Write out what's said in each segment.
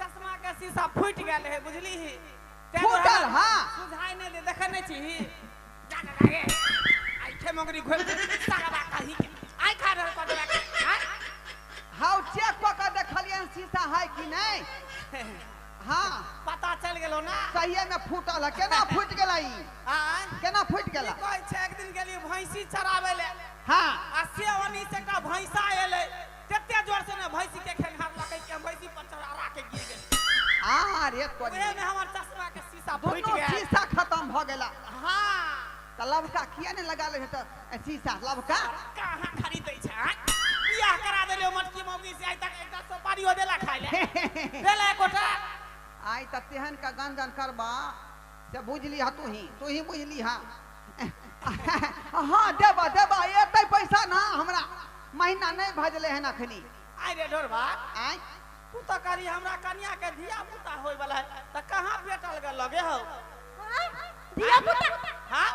चश्मा के शीशा फूट गेल है बुझली ही फूटल हां बुझाई नहीं दे देखे नहीं छी जाने लागे आई खे मगरी घोल दे तगड़ा कही के आई खा रहल कर देबे हां हाउ चेक क के देखलियन शीशा है कि नहीं हां पता चल गेलो ना सहिए में फूटल है केना फूट गेला ई हां केना फूट गेला कोई छे एक दिन गेली भैंसी चरावे ले हां आ से ओनी से का भैंसा एले तते जोर से ने भैंसी के खेनहार लगे के हम भैंसी पर चढ़ा रा के गिर गेल आ रे तोरी ओहे में हमर चश्मा के शीशा फूट दोनों गेल शीशा खत्म भ गेला हां त लवका किया ने लगा ले त ए, शीशा लवका कहाँ खरीदै छै आँय? बियाह करा देलियो मटकी मौगी से आइ तक एकटा सुपारियो देला खाइ ले देला एकोटा आइ त तेहन का गंजन करबा से बुझलिह तूही तूही बुझलिह हँ देबह देबह एतै पैसा ना हमरा महीना नहि भजलै हन अखनी आइ रे ढोरबा आँय तू तऽ करी हमरा कनिया के धिया पुता होय वाला है तऽ कहाँ भेटल गल लगे हो हाँ? धिया पुता हाँ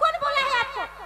कोण बोला है आपको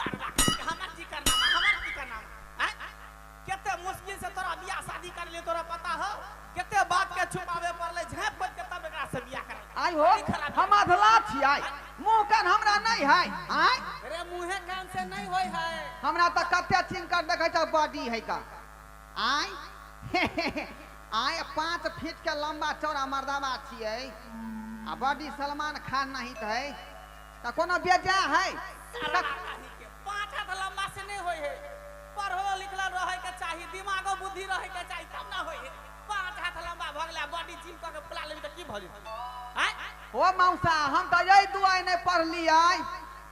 सरवा के हमर की करना हमर की करना हैं केते मुश्किल से तोरा बियाह शादी कर ले तोरा पता हो केते बात के छुपावे पड़ले झाँप खोद के तब एकरा से बियाह कर आइ हो हम अधला छियै मुंह कान हमरा नहि है आय अरे मुंहे कान से नहीं होय है हमरा तऽ कते चिन कर देखै छ बॉडी है का आय आय पाँच फीट के लंबा चौड़ा मर्दावा छियै आ बॉडी सलमान खान नहीं है तऽ कोनो बेजा है सारा कहीं के पाँच हाथ लंबा से नहीं होए है पढ़ल लिखल रहे के चाहिए दिमागो बुद्धि रहे के चाहिए तब ना होए है पाँच हाथ लंबा भ गेला बॉडी जिम करके फुला लेबी तऽ की भऽ जेतै आँय? हो मौसा हम तऽ यही दुआरे नहि पढ़लियै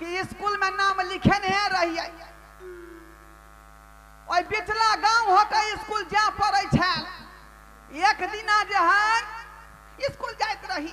कि स्कूल में नाम लिखेने रहियै ओहि बिचला गांव होके स्कूल जा पड़ै छल एक दिना जे है स्कूल जाइत रही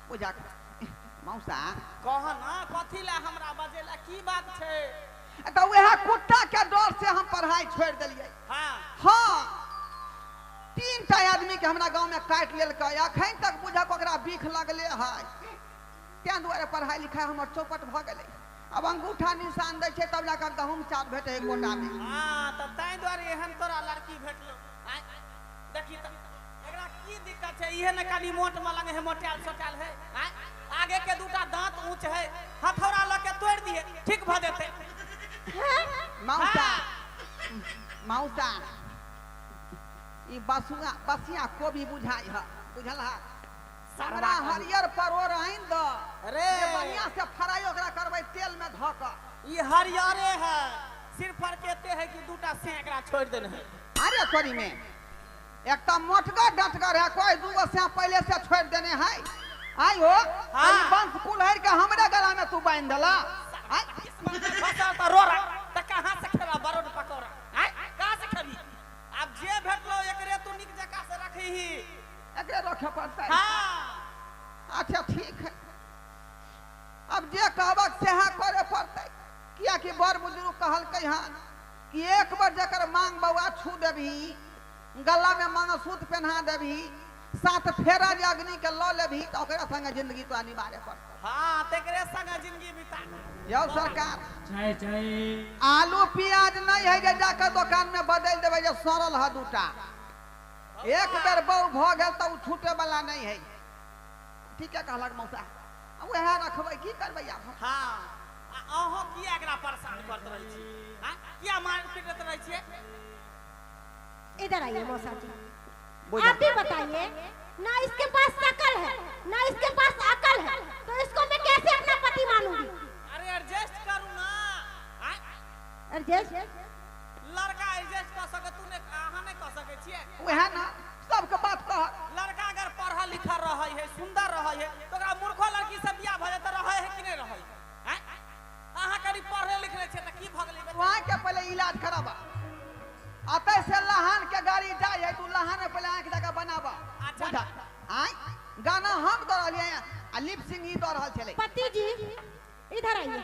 पूजा मौसा कह ना कथी ला हमरा बजेला की बात छै तऽ वएह कुत्ता के डर से हम पढ़ाई छोड़ दिलिए हाँ हाँ तीन टा आदमी के हमरा गांव में काट लेलक अखन तक बुझक ओकरा बीख लगले है तें दुआरे पढ़ाई लिखाई हमर चौपट भ गेले अब अंगूठा निशान दै छै तब जाकर गहूम चाप भेटे कोटा में हाँ तऽ ताहि दुआरे एहन तोरा लड़की भेटलो आँय, देखी तऽ एकरा की दिक्कत छै इहे ने कनी मोट मलंग है मोटायल सोटायल है आँय, आगे के दूटा दांत ऊंच है हथौड़ा लऽ के तोड़ दिए ठीक भऽ जेतै मौसा हाँ। मौसा ई बसुआ बसिया कोबी बुझाइ ह बुझल ह हमरा हरियर परोर आनि द रे जे बढ़िया से फ्राई ओकरा करबै तेल में धऽ कऽ ई हरियरे है सिर्फ फर्क एते है कि दूटा से एकरा छोड़ देने है अरे तोरी में एक तो मोटगर डटगर है कोई दूगो से पहले से छोड़ देने है आई हो हाँ। ई बंस कुल्हर के हमरे गला में तू बांध देला आई, बचा तो रो रहा तो कहाँ से खेबा बरोड पकौड़ा आय कहाँ से खेबी अब जे भेटलो एकरे तू निक जका से रखही एकरे रखे पड़तै हाँ अच्छा ठीक है अब जे कहबक सएह करे पड़तै कियाकि बड़ बुजुर्ग कहलकै हन कि एक बार जकर मांग बौआ छू देबही गला में मंगलसूत पहना देबही सात फेरा जे अग्नि के लऽ लेबही तऽ ओकरा संगे जिंदगी तो अनिवार्य पड़तौ हाँ तेरे संग जिंदगी बिता यौ सरकार चाय चाय आलू प्याज नहीं है जे जाकर दुकान में बदल देवे जे सड़ल है दूटा एक बेर बहू भऽ गेल तऽ ओ छूटे वाला नहीं है ठीके कहलक मौसा वह रखब की करब आब हाँ अहूँ किया एकरा परेशान करते रहे छी हाँ किया मार पीटत रहे छी इधर आइए मौसा जी आप ही बताइए ना इसके पास शकल है ना इसके पास अकल है तो इसको मैं कैसे अपना पति मानूंगी अरे एडजस्ट करू ना एडजस्ट लड़का एजेस कऽ सके तू ने अहाँ नहि कऽ सके छिए वएह ना सबके बात कह लड़का अगर पढ़ल लिखल रहै है सुंदर रहै है तो ओकरा मूर्खो लड़की से बियाह भऽ जाए तऽ रहै है कि नहि रहै है हैं? अहाँ कनी पढ़ले लिखले छिए तऽ की भऽ गेलै बे? वहाँ के पहले इलाज कराबा अतै से लहान के गाड़ी जाय है तू लहान में पहले आंख जाके बनाबा अच्छा। बुझा आय गाना हम दऽ रहलियै आ लिप सिंह ई दऽ रहल छलै पति जी इधर आइए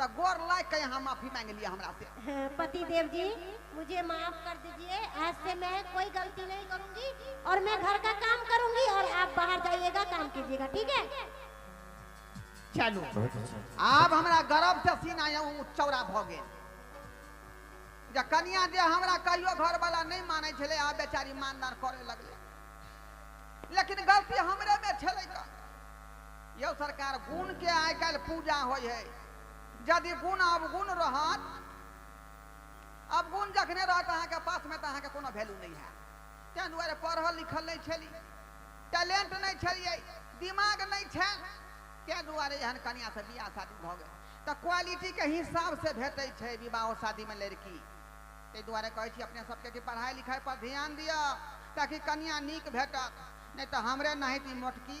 त गोर लाग के यहाँ माफी मांग लिया हमरा से पति देव जी मुझे माफ कर दीजिए आज से मैं कोई गलती नहीं करूंगी और मैं घर का काम करूंगी और आप बाहर जाइएगा काम कीजिएगा ठीक है चलो बहुत अच्छा आब हमरा गर्व से सीना यौ चौड़ा भ गेल जे कनिया जे हमरा कहियो घर वाला नहीं माने छले आ बेचारी मानदार करे लगले लेकिन गलती हमरे में छले का यौ सरकार गुण के आइ काल्हि पूजा होइ है यदि गुण अवगुण रहत अवगुण जखने रहत अहाँके पासमे तऽ अहाँके कोनो वैल्यू नहि हैत ताहि दुआरे पढ़ल लिखल नहि छली टैलेंट नहि छलियै दिमाग नहि छल ताहि दुआरे एहन कनियासँ बियाह शादी भऽ गेल तऽ क्वालिटीके हिसाबसँ भेटै छै विवाहो शादीमे लड़की ताहि दुआरे कहै छी अपने सभके कि पढ़ाइ लिखाइपर ध्यान दिअ ताकि कनिया नीक भेटत नहि तऽ हमरे नाहित ई मोटकी